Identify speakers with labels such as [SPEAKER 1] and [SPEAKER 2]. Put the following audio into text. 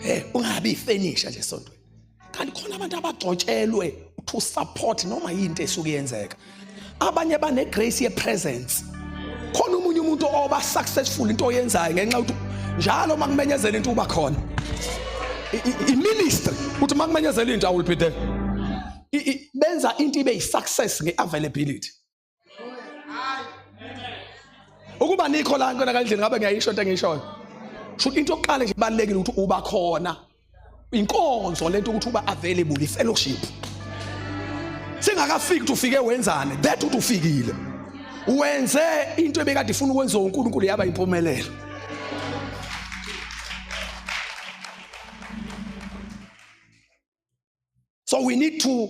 [SPEAKER 1] Eh ungabi ifenisha nje sontweni. Kanti khona abantu abagcotshelwe to support noma yinto esuke yenzeka. Abanye bane grace ye presence. Khona umunye umuntu oba successful into oyenzayo ngenxa ukuthi njalo makumenyezela into uba khona. I minister uthi makumenyezela into I will be there. Benza into ibe yi success nge availability. ukuba nikho la nkona kandleni ngabe ngiyayisho into engiyishoyo shuthi into yokuqala nje ibalulekile ukuthi uba khona inkonzo lento ukuthi uba available ifellowship singakafiki ukuthi ufike wenzane that ukuthi ufikile wenze into ebekade ifuna ukwenziwa uNkulunkulu yaba impumelelo so we need to